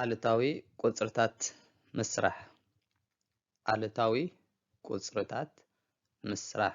ኣሉታዊ ቁፅርታት ምስራሕ ኣሉታዊ ቁፅርታት ምስራሕ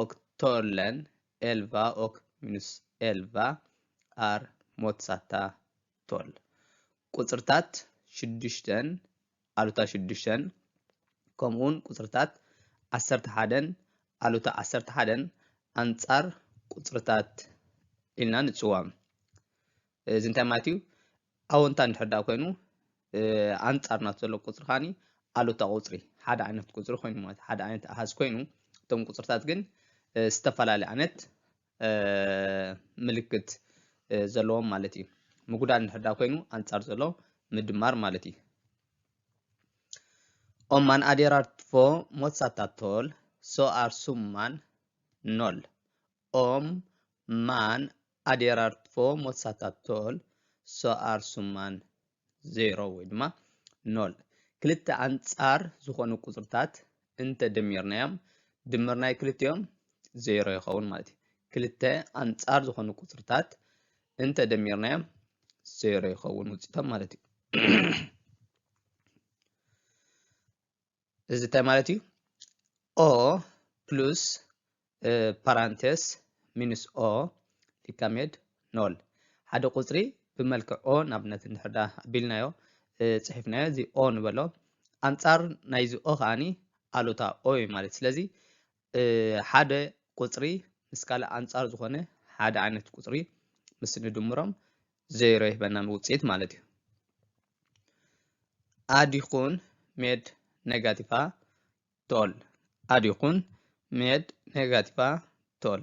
ኦክ ቶርለን ኤልቫ ኦክ ሚኑስ ኤልቫ ኣር ሞትሳታ ቶል። ቁጽርታት ሽዱሽተን ኣሉታ ሽዱሽተን ከምኡውን ቁጽርታት ዓሰርተ ሓደን ኣሉታ ዓሰርተ ሓደን ኣንጻር ቁጽርታት ኢልና ንጽዋም። እዚ እንታይ ማለት እዩ? ኣወንታ እንድሕር ደኣ ኮይኑ ኣንጻር ናቱ ዘሎ ቁጽሪ ከኣ ኣሉታ ቁጽሪ ሓደ ዓይነት ቁጽሪ ኮይኑ ማለት ሓደ ዓይነት ኣሃዝ ኮይኑ እቶም ቁጽርታት ግን ዝተፈላለየ ዓይነት ምልክት ዘለዎም ማለት እዩ ምጉዳል እንድሕዳ ኮይኑ ኣንጻር ዘሎ ምድማር ማለት እዩ Om man adderar två motsatta tal så är summan noll. ኦም ማን ኣዴራርትፎ ሞሳታቶል ሶኣር ሱማን ዜሮ ወይ ድማ ኖል ክልተ ኣንጻር ዝኾኑ ቁጽርታት እንተ ደሚርናዮም ድምር ናይ ክልቲኦም ዜሮ ይኸውን ማለት እዩ። ክልተ ኣንጻር ዝኾኑ ቁጽርታት እንተ ደሚርናዮም ዜሮ ይኸውን ውጽኢቶም ማለት እዩ። እዚ እንታይ ማለት እዩ? ኦ ፕሉስ ፓራንቴስ ሚንስ ኦ ሊካሜድ ኖል ሓደ ቁፅሪ ብመልክዕ ኦ ንኣብነት እንድሕር ዳ ኣቢልናዮ ፅሒፍናዮ እዚ ኦ ንበሎ ኣንፃር ናይዚ ኦ ከዓኒ ኣሉታ ኦ እዩ ማለት ስለዚ ሓደ ቁጽሪ ምስ ካልእ ኣንጻር ዝኾነ ሓደ ዓይነት ቁጽሪ ምስ ንድምሮም ዜሮ ይህበና ንውጽኢት ማለት እዩ። ኣድ ይኹን ሜድ ኔጋቲቫ ቶል ኣድ ይኹን ሜድ ኔጋቲቫ ቶል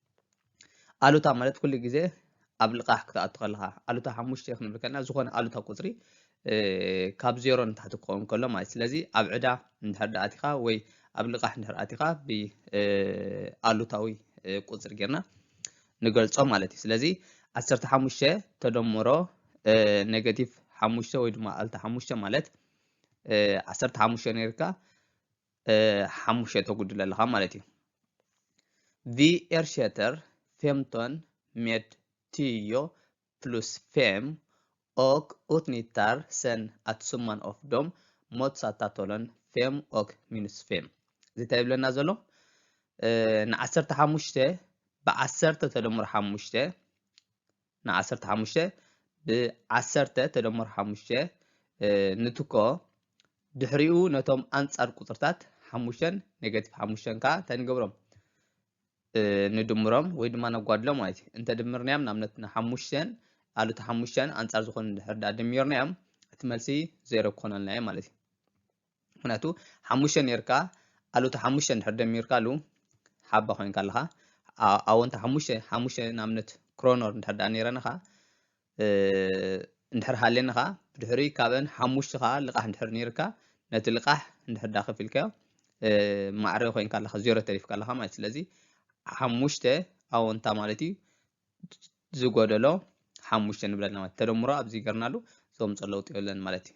ኣሉታ ማለት ኩሉ ግዜ ኣብ ልቓሕ ክትኣቱ ከለኻ ኣሉታ ሓሙሽተ ክንብል ከለና ዝኾነ ኣሉታ ቁፅሪ ካብ ዜሮ ንታሕቲ ክኸውን ከሎ ማለት ስለዚ ኣብ ዕዳ እንድሕር ዳ ኣቲኻ ወይ ኣብ ልቓሕ እንድሕር ኣቲኻ ብኣሉታዊ ቁፅሪ ጌርና ንገልጾ ማለት እዩ ስለዚ ዓሰርተ ሓሙሽተ ተደምሮ ኔጋቲቭ ሓሙሽተ ወይ ድማ ኣልታ ሓሙሽተ ማለት ዓሰርተ ሓሙሽተ ነርካ ሓሙሽተ ተጉድል ኣለኻ ማለት እዩ ቪ ኤርሸተር ፌምቶን ሜድ ትዮ ፕሉስ ፌም ኦክ ኡትኒታር ሰን ኣትሱማን ኦፍ ዶም ሞትሳታቶሎን ፌም ኦክ ሚኑስ ፌም እዚ እንታይ ይብለና ዘሎ ንዓሰርተ ሓሙሽተ ብዓሰርተ ተደምሮ ሓሙሽተ ን ዓሰርተ ሓሙሽተ ብ ዓሰርተ ተደመሩ ሓሙሽተ ንትኮ ድሕሪኡ ነቶም ኣንጻር ቁጽርታት ሓሙሽተን ኔጋቲቭ ሓሙሽተን ከኣ እንታይ ንገብሮም ንድምሮም ወይ ድማ ነጓድሎም ማለት እዩ እንተ ድምርናዮም ንኣብነት ንሓሙሽተን ኣሉቲ ሓሙሽተን ኣንጻር ዝኾኑ ድሕር ድኣ ድሚርናዮም እቲ መልሲ ዜሮ ክኾነልና እዩ ማለት እዩ ምክንያቱ ሓሙሽተ ነርካ ኣሉታ ሓሙሽተ እንድሕር ደሚርካሉ ሓባ ኮይንካ ኣለኻ ኣወንታ ሓሙሽተ ሓሙሽተ ንኣብነት ክሮኖር እንድሕር ደኣ ነይረንኻ እንድሕር ሃልየንኻ ብድሕሪ ካብን ሓሙሽተ ከዓ ልቃሕ እንድሕር ነይርካ ነቲ ልቃሕ እንድሕር ደኣ ከፊልካዮ ማዕረ ኮይንካ ኣለኻ ዜሮ ተሪፍካ ኣለኻ ማለት ስለዚ ሓሙሽተ ኣወንታ ማለት እዩ ዝጎደሎ ሓሙሽተ ንብለልና ማለት ተደምሮ ኣብዚ ገርናሉ ዘምፀ ለውጢ የለን ማለት እዩ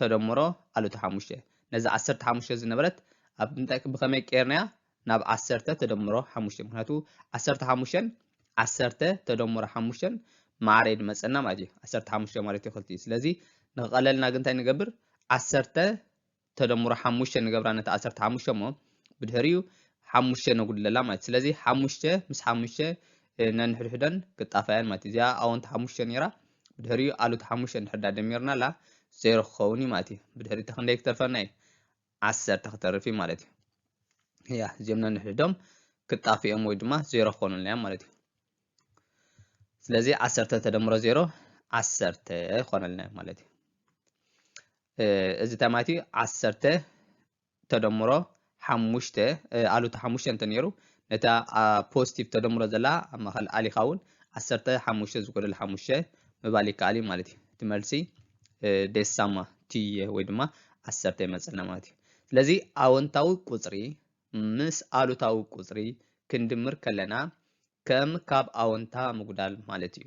ተደምሮ ኣሉታ ሓሙሽተ ነዛ ዓሰርተ ሓሙሽተ ዝነበረት ኣብ እንታይ ብኸመይ ቀይርናያ ናብ ዓሰርተ ተደምሮ ሓሙሽተ ምክንያቱ ዓሰርተ ሓሙሽተን ዓሰርተ ተደምሮ ሓሙሽተን ማዕረ ድመፀና ማለት እዩ ዓሰርተ ሓሙሽተ ማለት እዩ ክልቲኡ ስለዚ ንክቐለልና ግን እንታይ ንገብር ዓሰርተ ተደምሮ ሓሙሽተ ንገብራ ነቲ ዓሰርተ ሓሙሽተ እሞ ብድሕሪኡ ሓሙሽተ ነጉድለላ ማለት ስለዚ ሓሙሽተ ምስ ሓሙሽተ ነንሕድሕደን ክጣፋያን ማለት እዚኣ ኣወንቲ ሓሙሽተ ነይራ ብድሕሪኡ ኣሉት ሓሙሽተ እንድሕር ዳ ደሚርናላ ዜሮ ክኸውን እዩ ማለት እዩ ብድሕሪ እቲ ክንደይ ክተርፈና እዩ ዓሰርተ ክተርፍ እዩ ማለት እዩ እያ እዚኦም ነንሕድሕዶም ክጣፍ እዮም ወይ ድማ ዜሮ ክኾኑልና እዮም ማለት እዩ ስለዚ ዓሰርተ ተደምሮ ዜሮ ዓሰርተ ይኾነልና ማለት እዩ እዚ እንታይ ማለት እዩ ዓሰርተ ተደምሮ ሓሙሽተ ኣሉታ ሓሙሽተ እንተ ነይሩ ነታ ኣብ ፖዚቲቭ ተደምሮ ዘላ ኣብ ማእኸል ኣሊኻ እውን ዓሰርተ ሓሙሽተ ዝጎደለ ሓሙሽተ ምባል ይከኣል እዩ ማለት እዩ እቲ መልሲ ዴሳማ ትየ ወይ ድማ ዓሰርተ ይመፀና ማለት እዩ ስለዚ ኣወንታዊ ቁፅሪ ምስ ኣሉታዊ ቁፅሪ ክንድምር ከለና ከም ካብ ኣወንታ ምጉዳል ማለት እዩ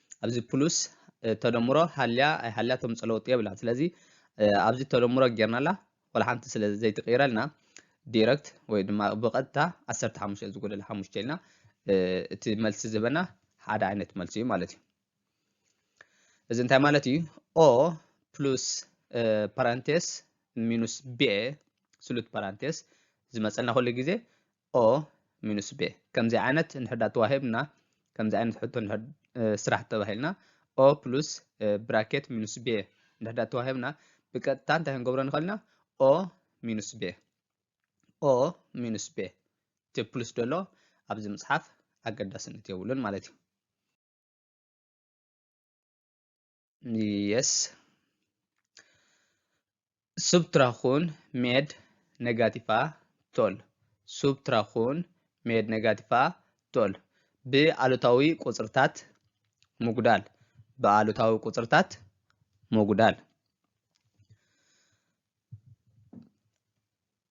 ኣብዚ ፕሉስ ተደምሮ ሃልያ ኣይሃልያ ተምፅእ ለውጢ የብላን ስለዚ ኣብዚ ተደምሮ ጌርናላ ወላ ሓንቲ ስለ ዘይትቕይረልና ዲረክት ወይ ድማ ብቐጥታ ዓሰርተ ሓሙሽተ ዝጎደለ ሓሙሽተ ኢልና እቲ መልሲ ዝህበና ሓደ ዓይነት መልሲ እዩ ማለት እዩ እዚ እንታይ ማለት እዩ ኦ ፕሉስ ፓራንቴስ ሚኑስ ቤ ስሉት ፓራንቴስ ዝመፀልና ኩሉ ግዜ o ሚኑስ ቤ ከምዚ ዓይነት እንድሕዳ ተዋሂብና ከምዚ ዓይነት ሕቶ ስራሕ ተባሂልና o ፕሉስ ብራኬት ሚኑስ ቤ እንድሕዳ ተዋሂብና ብቀጥታ እንታይ ክንገብሮ ንኽእል ኢና o ሚኑስ ቤ o ሚኑስ ቤ እቲ ፕሉስ ደሎ ኣብዚ ምፅሓፍ ኣገዳስነት የብሉን ማለት እዩ የስ ሱብትራኹን ሜድ ነጋቲፋ ቶል ሱብትራኹን ሜድ ነጋቲፋ ቶል ብኣሉታዊ ቁፅርታት ምጉዳል ብኣሉታዊ ቁፅርታት ምጉዳል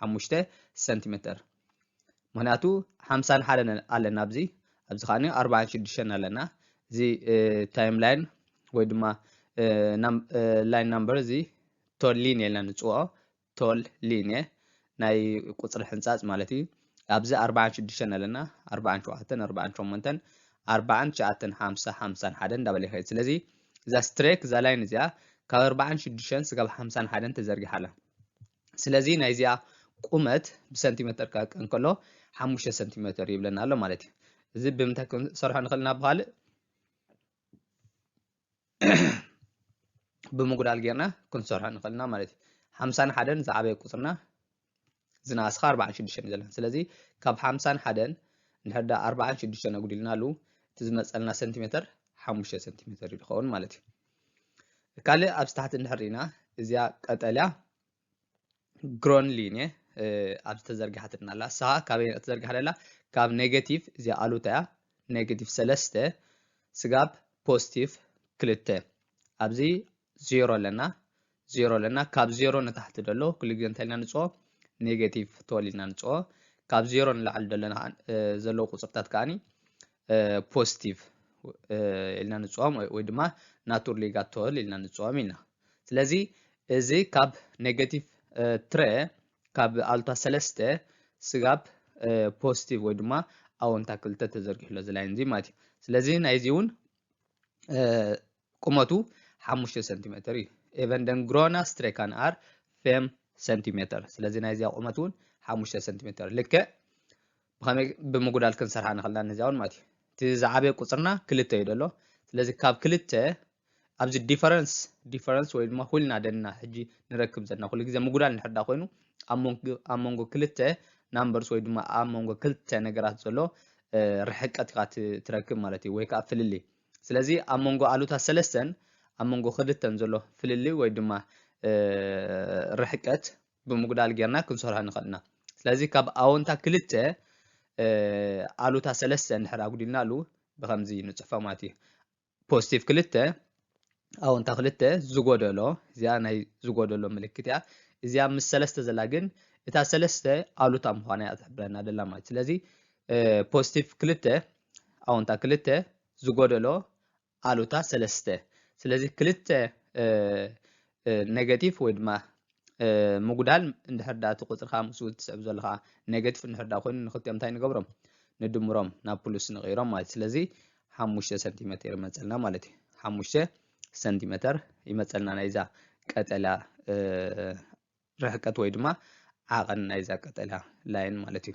ሓሙሽተ ሰንቲሜተር ምክንያቱ ሓምሳን ሓደን ኣለና ኣብዚ ኣብዚ ከዓኒ ኣርባዓን ሽዱሽተን ኣለና እዚ ታይም ላይን ወይ ድማ ላይን ናምበር እዚ ቶል ሊንየ ኢልና ንፅውዖ ቶል ሊንየ ናይ ቁፅሪ ሕንፃፅ ማለት እዩ ኣብዚ ኣርባዓን ሽዱሽተን ኣለና ኣርባዓን ሸውዓተን ኣርባዓን ሸሞንተን ኣርባዓን ትሽዓተን ሓምሳ ሓምሳን ሓደ እንዳበለ ይኸይድ ስለዚ እዛ ስትሬክ እዛ ላይን እዚኣ ካብ ኣርባዓን ሽዱሽተን ስጋብ ሓምሳን ሓደን ተዘርጊሓ ኣላ ስለዚ ናይዚኣ ቁመት ብሰንቲመተር ክቐቀ እንከሎ ሓሙሽተ ሰንቲመተር ይብለና ኣሎ ማለት እዩ እዚ ብምንታይ ክንሰርሖ ንኽእል ናብ ካልእ ብምጉዳል ጌርና ክንሰርሖ ንኽእል ኢና ማለት እዩ ሓምሳን ሓደን ዝዓበየ ቁፅርና ዝነኣስኻ ኣርባዓን ሽዱሽተን እዩ ዘለና ስለዚ ካብ ሓምሳን ሓደን እንድሕር ዳ ኣርባዓን ሽዱሽተን ኣጉዲልና ኣሉ እቲ ዝመፀልና ሰንቲሜተር ሓሙሽተ ሰንቲሜተር እዩ ዝኸውን ማለት እዩ ካልእ ኣብዚ ታሕቲ እንድሕር ኢና እዚኣ ቀጠልያ ግሮን ሊን እየ ኣብዚ ተዘርጊሓትና ኣላ ንስኻ ካበይ ተዘርጊሓ ደላ ካብ ኔጌቲቭ እዚኣ ኣሉታ እያ ኔጌቲቭ ሰለስተ ስጋብ ፖዚቲቭ ክልተ ኣብዚ ዜሮ ኣለና ዜሮ ኣለና ካብ ዜሮ ንታሕቲ ደሎ ኩሉ ግዜ እንታይ ኢልና ንፅኦ ኔጌቲቭ ትወል ኢልና ንፅኦ ካብ ዜሮ ንላዕሊ ደለና ዘለዉ ቁፅርታት ከዓኒ ፖዚቲቭ ኢልና ንፅኦም ወይ ድማ ናቱር ሊጋ ትወል ኢልና ንፅኦም ኢና ስለዚ እዚ ካብ ኔጌቲቭ ትረ ካብ ኣሉታ ሰለስተ ስጋብ ፖዚቲቭ ወይ ድማ ኣወንታ ክልተ ተዘርጊሑ ኣሎ እዚ ላይን እዚ ማለት እዩ ስለዚ ናይዚ እውን ቁመቱ ሓሙሽተ ሰንቲሜተር እዩ። Även den gröna strekan är fem centimeter ስለዚ ናይዚኣ ቁመት እውን ሓሙሽተ ሰንቲሜተር ልክዕ ብኸመይ ብምጉዳል ክንሰርሓ ንኽእልና ነዚኣ እውን ማለት እዩ እቲ ዝዓበየ ቁፅርና ክልተ እዩ ደሎ ስለዚ ካብ ክልተ ኣብዚ ዲፈረንስ ዲፈረንስ ወይ ድማ ሁልና ደና ሕጂ ንረክብ ዘለና ኩሉ ግዜ ምጉዳል ንሕዳ ኮይኑ ኣብ መንጎ ክልተ ናምበርስ ወይ ድማ ኣብ መንጎ ክልተ ነገራት ዘሎ ርሕቀት ኢኻ ትረክብ ማለት እዩ ወይ ከዓ ፍልልይ ስለዚ ኣብ መንጎ ኣሉታ ሰለስተን ኣብ መንጎ ክልተን ዘሎ ፍልልይ ወይ ድማ ርሕቀት ብምጉዳል ጌርና ክንሰርሖ ንኽእል ኢና። ስለዚ ካብ ኣወንታ ክልተ ኣሉታ ሰለስተ እንድሕር ኣጉዲልናሉ ብከምዚ ንፅሕፎ ማለት እዩ። ፖዚቲቭ ክልተ ኣወንታ ክልተ ዝጎደሎ እዚኣ ናይ ዝጎደሎ ምልክት እያ። እዚኣ ምስ ሰለስተ ዘላ ግን እታ ሰለስተ ኣሉታ ምዃና እያ ትሕብረና ደላ ማለት ስለዚ ፖዚቲቭ ክልተ ኣወንታ ክልተ፣ ዝጎደሎ ኣሉታ ሰለስተ። ስለዚ ክልተ ኔጋቲቭ ወይ ድማ ምጉዳል እንድሕር ዳ እቲ ቁፅርካ ምስኡ ትስዕብ ዘለካ ኔጋቲቭ እንድሕር ዳ ኮይኑ ንክልቲኦም እንታይ ንገብሮም ንድምሮም ናብ ፕሉስ ንቕይሮም ማለት ስለዚ ሓሙሽተ ሰንቲሜትር ይመፀልና ማለት እዩ ሓሙሽተ ሰንቲሜትር ይመፀልና ናይዛ ቀጠልያ ርሕቀት ወይ ድማ ዓቐን ናይዛ ቀጠልያ ላይን ማለት እዩ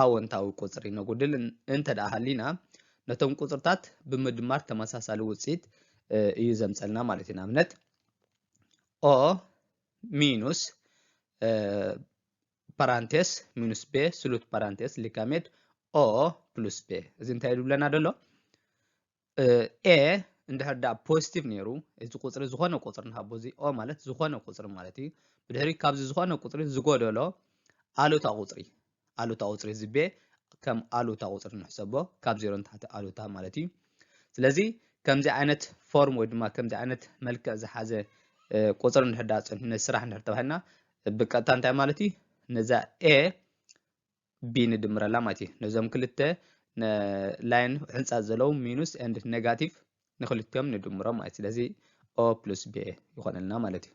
ኣወንታዊ ቁጽሪ ነጉድል እንተድኣ ሃሊና ነቶም ቁጽርታት ብምድማር ተመሳሳሊ ውጽኢት እዩ ዘምጸልና ማለት እዩ ንኣብነት ኦ ሚኑስ ፓራንቴስ ሚኑስ ቤ ስሉት ፓራንቴስ ሊካሜድ ኦ ፕሉስ ቤ እዚ እንታይ ይብለና ደሎ ኤ እንድሕር ደኣ ፖዚቲቭ ነይሩ እዚ ቁፅሪ ዝኾነ ቁፅሪ ንሃቦ እዚ ኦ ማለት ዝኾነ ቁፅሪ ማለት እዩ ብድሕሪ ካብዚ ዝኾነ ቁፅሪ ዝጎደሎ ኣሉታ ቁፅሪ ኣሉታ ቁፅሪ እዚ ቤ ከም ኣሉታ ቁፅሪ ንሕሰቦ ካብ ዜሮ ንታሕቲ ኣሉታ ማለት እዩ ስለዚ ከምዚ ዓይነት ፎርም ወይ ድማ ከምዚ ዓይነት መልክዕ ዝሓዘ ቁፅሪ እንድሕር ደኣ ፀኒሑ ነዚ ስራሕ እንድሕር ተባሂልና ብቀጥታ እንታይ ማለት እዩ ነዛ ኤ ቢ ንድምረላ ማለት እዩ ነዞም ክልተ ላይን ሕንፃ ዘለዉ ሚኑስ ኤንድ ኔጋቲቭ ንክልቲኦም ንድምሮም ማለት ስለዚ ኦ ፕሉስ ቢ ይኾነልና ማለት እዩ